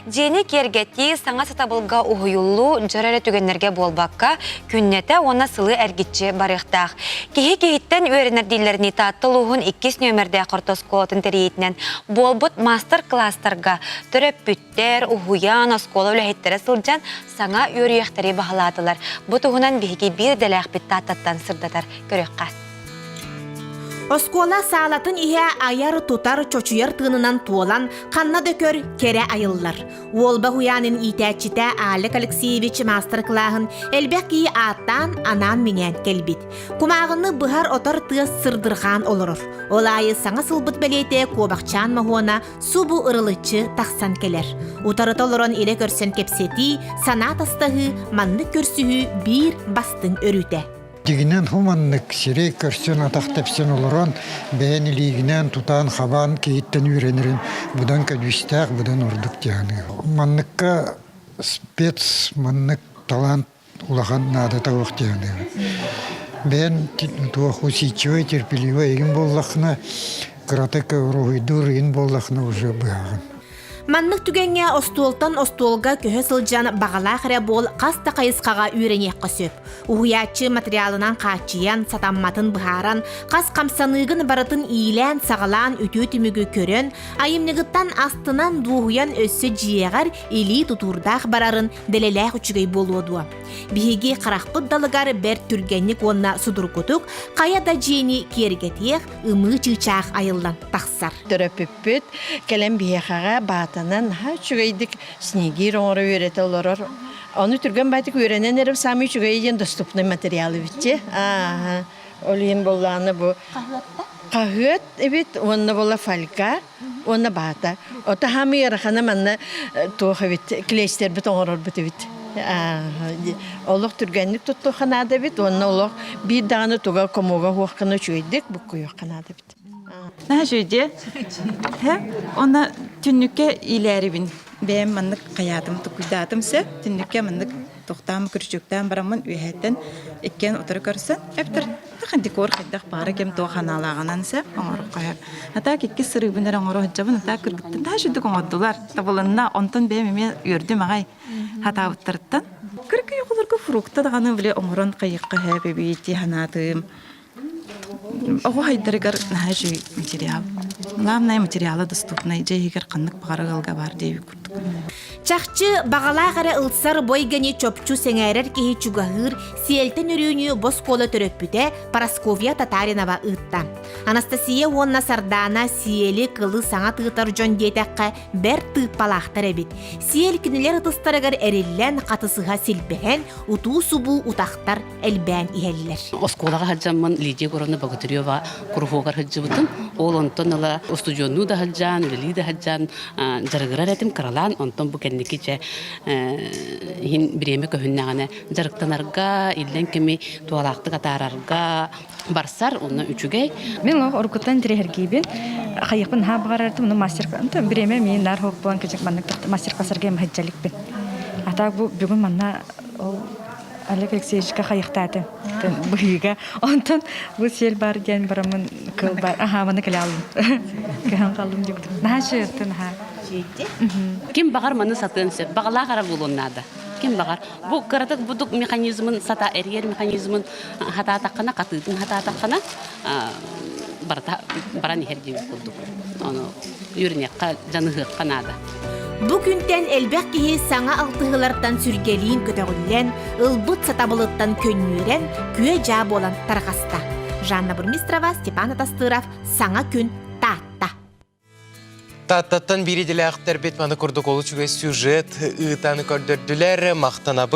Дьиэни киэргэтии саҥа сатабылга уһуйуллуу дьар эрэ түгэннэргэ буолбакка, күннэтэ уонна сылы эргиччи барыахтаах. Киһи киһиттэн үөрэнэрдииллэринии Таатта улууһун иккис нүөмэрдээх орто оскуолатын тэрийиитинэн буолбут маастар-кылаастарга төрөппүттэр, уһуйаан, оскуола үлэһиттэрэ сылдьан саҥа үөрүйэхтэри баһылаатылар. Бу туһунан биһиги биир идэлээхпит Тааттаттан сырдатар көрүөх-хас. Оскуола саалатын иһэ айар-тутар, чочуйар тыынынан туолан, ханна да көр, кэрэ айыллар. Уолба уһуйаанын иитээччитэ Алек Алексеевич маастар-кылааһын элбэх киһи ааттаан, анаан-минээн кэлбит. Кумааҕыны быһар-отор тыас сырдырҕаан олорор. Ол аайы саҥа сылбыт бэлиэтэ Куобахчаан Моһуона субу ырылыччы тахсан кэлэр. Утарыта олорон илэ көрсөн кэпсэтии, санаа тастаһыы, маннык көрсүһүү биир бастыҥ өрүүтэ. Дьигинэн хуманнык сирэй көрсөн атах тэпсэн олорон бэйэн илиигинээн тутаан хабаан киһиттэн үөрэнэрин будан көдүүстээх будан ордук дьаһаныы. Манныкка спец маннык талант улахан наадата ох дьаһаныыбын. Бэйэн туоху сичивай терпеливый эгин боллахна кыратык уруһуйдуур ин боллахна уже быһаҕын. Маннык түгэҥҥэ остуолтан остуолга көһө сылдьан баҕалаах эрэ буол хас да хайысхаҕа үөрэниэххэ сөп. Уһуйааччы материалынан хааччыйан, сатамматын быһааран, хас хамсаныыгын барытын иилээн-саҕалаан үтүө түмүгү көрөн, айымньыгыттан астынан дуоһуйан өссө дьиэҕэр илии тутуурдаах барарын дэлэлээх үчүгэй буолуо дуо? Биһиги харахпыт далыгар бэрт түргэнник уонна судургутук хайа да дьиэни киэргэтиэх, ымыы чыычаах айыллан тахсар. Төрөппүппүт кэлэн биһиэхэҕэ баатанан үчүгэйдик снегир оҥоро үөрэтэ олорор. Ону түргэн байтык үөрэнэн эрэр самый үчүгэйи диэн доступный материал эбитти. Ол иһин боллааны бу хаһыат эбит, уонна бола фольга. Уонна баата. Ото хаама ыарахана манна туох эбит клещтербит оҥорорбут эбит. Олох түргэнник туттуохха наада эбит уонна олох биир даҕаны туга комуга уоххана үчүгэйдик буккуйуохха наада эбит. Наһаа үчүгэй. Онно түннүккэ иилээрибин. Бэйэм маннык хайаатым, тукуйдаатым сөп. Түннүккэ маннык Тохтаан күрүчүктээн бараммын үөһэттэн иккиэн утары көрсөн эптэр тахан декор хайдах баара кем туох ханаалааҕынан сэ оҥороххоһо. Атаак иккис сырыыбын эрэ оҥоро сылдьабын атаак кыргыттан таа шүдүк оҥордулар. Табылынна, онтон бэйэм эмиэ үөрдүм аҕай хатаабыттарыттан. Кыркый оҕолорго фрукта даҕаны биле оҥорон хайыхха һээп эбии ди санаатыым. Оҕо хайдарыгар наһаа үчүгэй материал. Главное материала доступнай, дьэ иһигэр ханнык баҕара ыалга баар диэбит курдук. Чахчы баҕалаах эрэ ылсар бойгани чопчу сэҥээрэр киһи чугаһыыр Сиэлтэн өрүүнү боскуола төрөппүтэ Парасковья Татаринова ыытта. Анастасия уонна Сардаана Сиэли кылы саҥа тыытар дьон диэтэххэ бэрт тыыппалаахтар эбит. Сиэл кинилэр ытыстарыгар эриллэн, хатысыһа силбэһэн, утуу-субуу утахтар элбээн иһэллэр. Оскуолаҕа сылдьаммын Лидия Гуровна Богатырева куруһуогар сылдьыбытым. Ол онтон ыла устудьуоннуу да сылдьан, үлэлии да сылдьан дьарыгырар этим, кыралаан. Онтон бу кэнники дьэ иһин бириэмэ көһүннэҕинэ дьарыктанарга, иллэҥ кэми туолаахтык атаарарга барсар, онно үчүгэй. Мен орукуттан тириһэргиибин хайыахпын наһаа баҕарардым, ну мастер бириэмэ мии наар хоһук булан кэчик маннык мастер классарга сыргыйым сылдьаликпин. А так бу бүгүн манна ол Олег Алексеевичка хайыхтаатын быһыыга. Онтон бу сиэл баар диэн барамын кылбар аһаабаны кэлаалым. Кыһан қалым дегдым. Наһаа шыырты наһаа. Шиити. Ким баҕар маны сатыан сөп. Баҕалаах ара буолуон наада. Ким баҕар. Бу кыратык будук механизмын сата эргер механизмын хатаатаххына хатыытын хатаатаххына барата баран иһэр диир курдук. Ону үйренекке жаныһыахха наада. Бу күнтэн элбэх киһи саҥа алтыһыылартан сүргэлиин көтөҕүллэн, ылбыт сатабылыттан көнньүүрэн, күө-дьаа буолан тарҕаста. Жанна Бурмистрова, Степан Атастыров саҥа күн Таатта. Тааттаттан биир идэлээхтэрбит маны курдук олус үгэс сюжет ыытан көрдөрдүлэр. Махтанабыт.